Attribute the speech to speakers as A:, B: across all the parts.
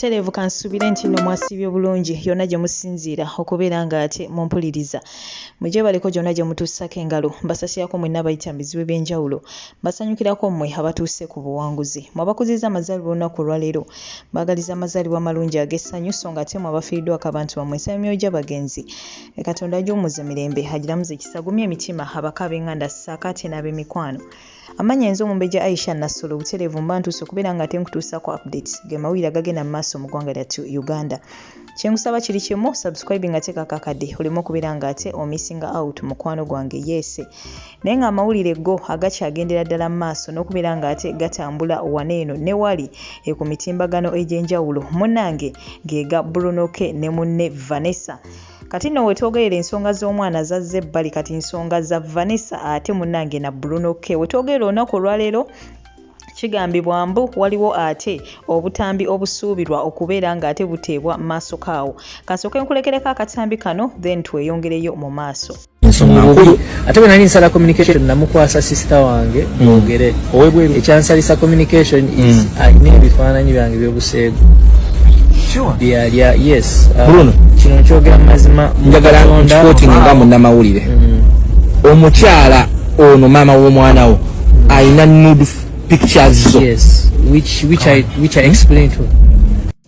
A: butereevu kansuubire nti nno mwasiibye bulungi yonna gye musinziira okubeera nga ate mumpuliriza mugyebaleko gyonna gye mutuusako engalo mbasasirako mwenna abayita mu bizibu eby'enjawulo Basanyukirako mmwe abatuuse ku buwanguzi. Mmwe abakuzizza amazaalibwa olunaku olwaleero, mbaagaliza amazaalibwa amalungi ag'essanyu, sso ng'ate mmwe abafiiriddwako abantu bammwe nsaba emyoyo gy'abagenzi Katonda agiwummuze mirembe, agiramuze kisa, agumye emitima, abako ab'enganda ssaako ate n'ab'emikwano. Amannya nze Omumbejja Aisha Nassolo, butereevu mba ntuuse okubeera ng'ate nkutuusaako updates, ge mawulire agagenda mu maaso mu ggwanga lyattu Uganda. kyenkusaba kiri kimu subscribing ate kakakade oleme okubeera nga ate omissing out mukwano gwange yese naye nga amawulire go agakyagendera ddala mu maaso n'okubeera nga ate gatambula wana eno ne wali e ku mitimbagano egy'enjawulo munange gega brunoke ne munne vanessa kati nno wetwogerera ensonga z'omwana zazze ebbali kati nsonga za vanessa ate munange na brunoke wetwogerera olunaku olwaleero Kigambibwa mbu waliwo ate obutambi obusuubirwa okubeera ng'ate buteebwa mu maaso kaawo. Kasooke nkulekereko akatambi kano then tweyongereyo mu maaso. ensonga nkulu
B: ate bwe nali nsala communication namukwasa sisita wange mm. mwogere owebweru ekyansalisa communication is mm. alina ebifaananyi byange byobuseegu byalya yes uh, kino
C: nkyogera mu
B: mazima njagala nkipotinga
C: nga munnamawulire mm. omukyala ono maama w'omwana wo alina nude pictures zo yes which
B: which i which i explain to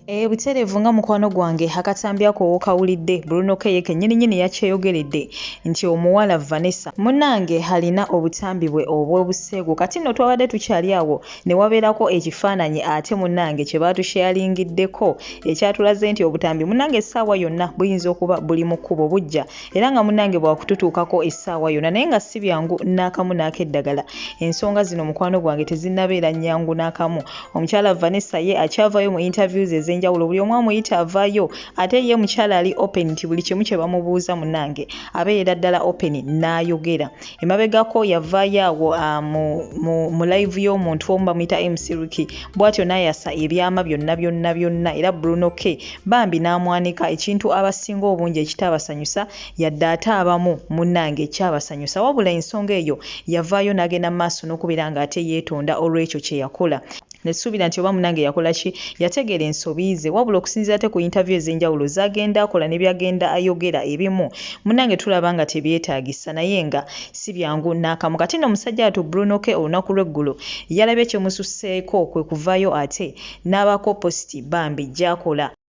B: Eh, butereevu
A: nga mukwano gwange akatambi ako wokawulidde bruno keye kenyini nyini yakyeyogeredde nti omuwala vanessa munange alina obutambi bwe obw'obuseegu kati nno twabadde tukyali awo ne wabeerako ekifaananyi ate munange kye baatusheyalingiddeko ekyatulaze nti obutambi munange essaawa yonna buyinza okuba buli mu kkubo bujja era nga munange bwakututuukako essaawa yona naye nga si byangu n'akamu n'akeddagala ensonga zino mukwano gwange tezinnabeera nyangu n'akamu omukyala vanessa ye akyavayo mu interviews ez'enjawulo buli omu amuyita avayo ate ye mukyala ali open nti buli kimu kye bamubuuza munange abeera ddala open n'ayogera emabegako yavaayo awo ah, mu live y'omuntu omu bamuyita mcriki bwatyo nayasa ebyama byonna byonna byonna era bruno k bambi n'amwanika ekintu abasinga obungi ekitaabasanyusa yadde ate abamu munnange ekyabasanyusa wabula ensonga eyo yavaayo n'agenda mu maaso n'okubeera ng'ate yeetonda olw'ekyo kye yakola Nesuubira nti oba munange yakola ki, yategeera ensobi ze. Wabula okusinziira ate ku yintaviyu ez'enjawulo z'agenda akola ne by'agenda ayogera ebimu munange tulaba nga tebyetaagisa naye nga si byangu n'akamu. Kati nno musajja wattu Bruno K olunaku lw'eggulo yalabye kimususseeko kwe kuvaayo ate n'abaako positi bambi gy'akola.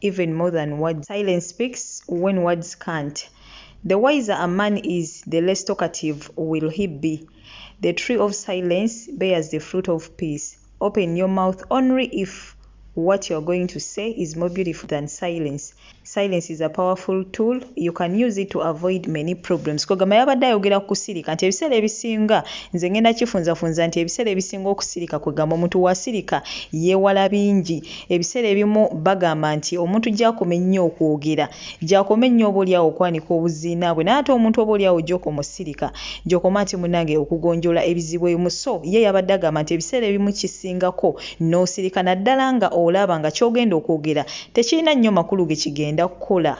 A: even more than words. Silence speaks when words can't. The wiser a man is, the less talkative will he be. The tree of silence bears the fruit of peace. Open your mouth only if what you're going to say is more beautiful than silence. Silence is a powerful tool. You can use it to avoid many problems. Kogama yabadde ayogera ku kusirika nti ebiseera ebisinga nze ngenda kifunzafunza nti ebiseera ebisinga okusirika kwegamba omuntu wasirika yeewala bingi Ebiseera ebimu bagamba nti omuntu gy'akoma ennyo okwogera, gy'akoma ennyo oboolyawo okwanika obuziina bwe naye ate omuntu oboolyawo gy'okoma osirika, gy'okoma ati munnange okugonjoola ebizibu ebimu so ye yabadde agamba nti ebiseera ebimu kisingako n'osirika naddala nga olaba nga ky'ogenda okwogera tekirina nnyo makulu ge kigenda kukola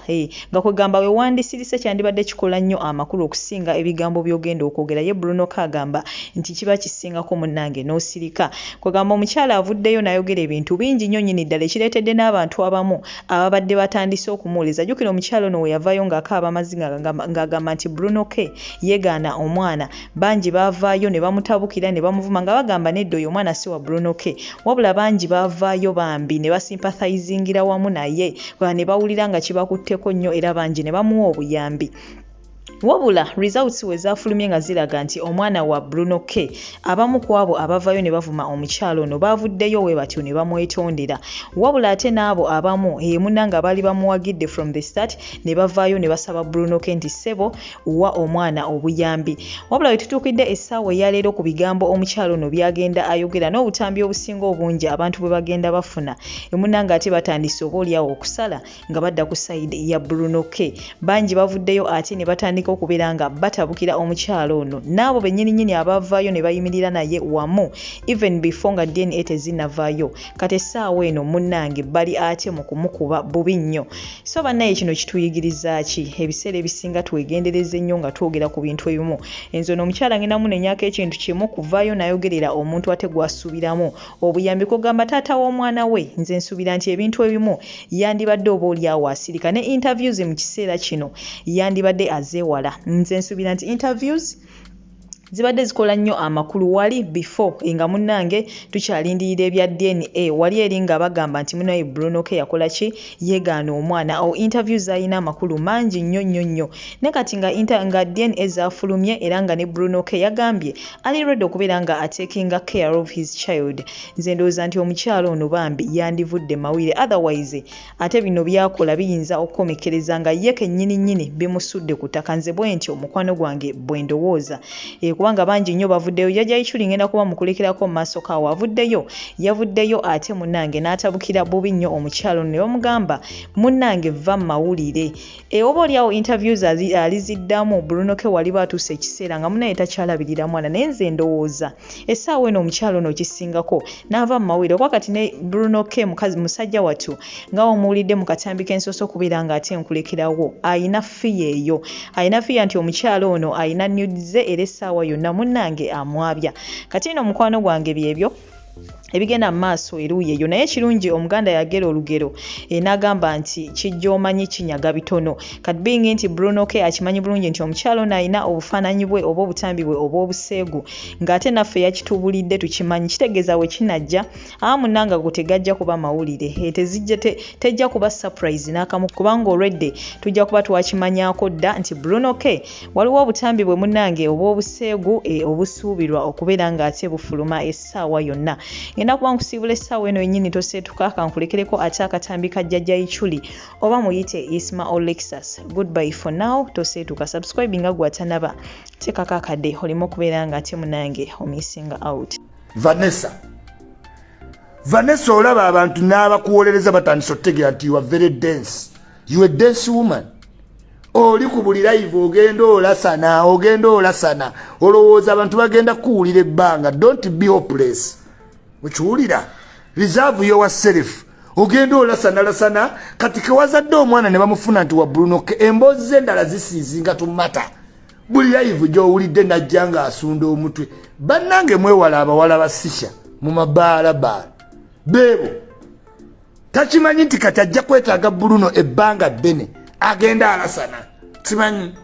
A: nga kwegamba we wandisirise kyandibadde kikola nnyo amakulu okusinga ebigambo by'ogenda okwogera ye Bruno Kagamba nti kiba kisingako munnange n'osirika Kwegamba omukyala avuddeyo nayogera ebintu bingi nnyo nyini ddala ekireetedde n'abantu abamu ababadde batandise okumuwuliza. Jjukira omukyala ono weyavaayo ng'akaaba amazzi ng'agamba nti Bruno K yegaana omwana. Bangi baavaayo ne bamutabukira ne bamuvuma nga bagamba nedda oyo omwana si wa Bruno K. Wabula bangi baavaayo bambi ne basympathizingira wamu naye ne bawulira nga kibakutteko nnyo era bangi ne bamuwa obuyambi. wabula results we zaafulumye nga ziraga nti omwana wa bruno k abamu ku abo abavayo ne bavuma omukyalo ono baavuddeyo we batyo ne bamwetondera wabula ate n'abo abamu emuna nga baali bamuwagidde from the start ne bavaayo ne basaba bruno k nti ssebo wa omwana obuyambi wabula we tutuukidde essaawa eyaleero ku bigambo omukyalo ono byagenda ayogera n'obutambi obusinga obungi abantu bwe bagenda bafuna emuna nga ate batandise oba olyawo okusala nga badda ku sayidi ya bruno k bangi bavuddeyo ate ne batandika okubeera nga batabukira omukyalo ono n'abo bennyininyini abavaayo ne bayimirira naye wamu even before nga dna tezinavayo kati essaawa eno munnange bali ate mu kumukuba bubi nnyo so bannaye kino kituyigiriza ki ebiseera ebisinga twegendereza ennyo nga twogera ku bintu ebimu enzo no omukyala ngenda munenyako ekintu kimu kuvaayo nayogerera omuntu ate gwasuubiramu obuyambi kogamba taata w'omwana we nze nsuubira nti ebintu ebimu yandibadde oba olyawo asirika ne interviews mu kiseera kino yandibadde azeewala nze nsuubira nti interviews zibadde zikola nnyo amakulu wali before nga munnange tukyalindirira ebya dna wali eri nga bagamba nti munaye brunoke yakola ki yegaana omwana awo interview zalina amakulu mangi nnyo nnyo nnyo ne kati nga, inter, nga dna zafulumye era nga ne bruno ke yagambye ali redi okubeera nga atekinga care of his child nze ndowooza nti omukyalo ono bambi yandivudde mawire otherwise ate bino byakola biyinza okukomekereza nga ye kennyini nnyini bimusudde ku ttaka nze bwentyo mukwano gwange bwendowooza e, kubanga bangi nnyo bavuddeyo jajja ichuli ngenda kuba mukulekerako mu maaso kawo avuddeyo yavuddeyo ate munange n'atabukira bubi nnyo omukyalo ne bamugamba munange vva mu mawulire e, oba olyawo interviews aliziddamu brunoke waliba atuuse ekiseera nga munaye takyalabirira mwana naye nze ndowooza essaawa eno omukyalo ono okisingako n'ava mu mawulire okuba kati ne bruno k mukazi musajja wattu nga omuwulidde mu katambi k'ensoso okubeera nga ate nkulekerawo alina fiya eyo alina fiya nti omukyalo ono alina nudize era essaawa yonna munnange amwabya kati ino mukwano gwange byebyo ebigenda mu maaso eruuyi eyo naye ekirungi omuganda yagera olugero eh, n'agamba nti kijja omanyi kinyaga bitono kat being nti bruno ke akimanyi bulungi nti omukyalo ono alina obufaananyi bwe oba obutambi bwe obw'obuseegu ng'ate naffe yakitubulidde tukimanyi kitegeeza we kinajja amunanga gwo tegajja kuba mawulire eh, tezijja tejja kuba surprise n'akamu kubanga olwedde tujja kuba twakimanyako dda nti bruno ke waliwo obutambi bwe munange obw'obuseegu eh, obusuubirwa okubeera ng'ate bufuluma saawa yonna ngenda kuba nkusiibula essaawa eno yennyini toseetuka kankulekereko ate akatambi ka jjajja ichuli oba muyite isma olexus goodby for now toseetuka subscribe nga gwatanaba teekako akade olimu okubeera nga ate munange omisinga out vanessa
D: vanessa olaba abantu n'abakuwolereza batandisa otutegeera nti ua very dense ua dense woman oli ku buli live ogenda olasana ogenda olasana olowooza abantu bagenda kukuwulira ebbanga dont be hopeless okiwulira reserve yowa self ogenda olasana lasana kati kewazadde omwana ne bamufuna nti wa bruno emboozi z'endala zisiizinga tumata buli live gyowulidde najja nga asunda omutwe bannange mwewala abawala basisha mu mabaalabaala beebo takimanyi nti kati ajja kwetaaga bruno ebbanga ddene agenda alasana kimanyi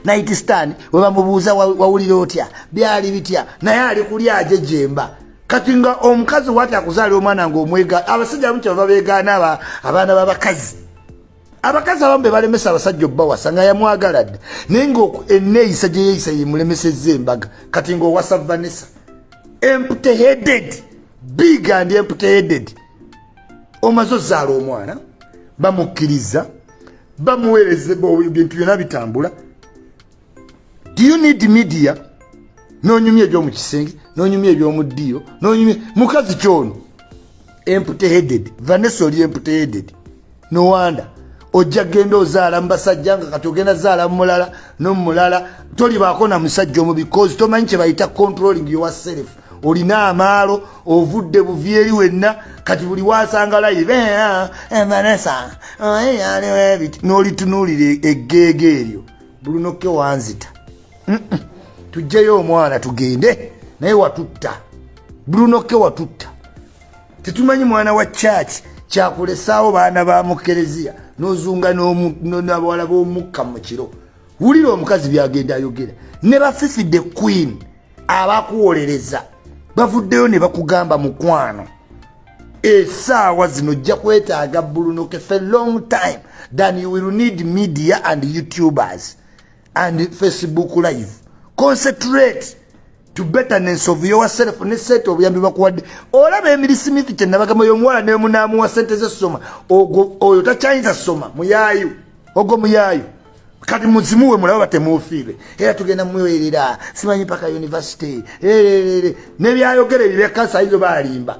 D: nayiti stan webamubuuza wawulira otya byali bitya naye ali kuli aje jemba kati nga omukazi wati akuzaalira omwana nga omwega abasajja abamu kyebava begaana abaana babakazi abakazi abamu bebalemesa abasajja obbawasa nga yamwagala dda naye nga eneeyisa gyeyeeyisa yemulemeseza embaga kati ngaowasa vanessa empty headed big and empty headed omaze ozaala omwana bamukkiriza bamuweereza ebintu byona bitambula do you need media nonyumya ebyomu kisenge nonyumya ebyomu ddiiro nonyumya mukazi kyono empty headed vanessa oli empty headed nowanda ojja genda ozaala mubasajja nga kati ogenda zaala mumulala nomumulala tolibaako na musajja omu because tomanyi kyebayita controlling your self olina amaalo ovudde buvi eri wenna kati buli wasanga layibe ah, eh, vanessa oyaliwebiti oh, nolitunuulira e-, eggeega eryo bulunokke wanzita tujjeyo omwana tugende naye watutta bulunokke watutta tetumanyi mwana wa church kyakulesaawo baana ba mukereziya nozunga nabawala b'omukka mu kiro wulira omukazi byagenda ayogera ne bafifidde queen abakuwolereza bavuddeyo ne bakugamba mukwano esaawa zino ojja kwetaaga bulunoke fe long time than you will need media and youtubers and facebook live concentrate to betterness of yourself ne sente obuyambi bakuwadde olaba emiri smith kyenabagamba oyo omuwala nemunaamuwa sente zesoma ogwo oyo takyayinza soma muyayu ogwo muyayu kati muzimuwe mulaba batemufiire era tugenda muwerera simanyi paka university nebyayogera ebyo byakansa izo balimba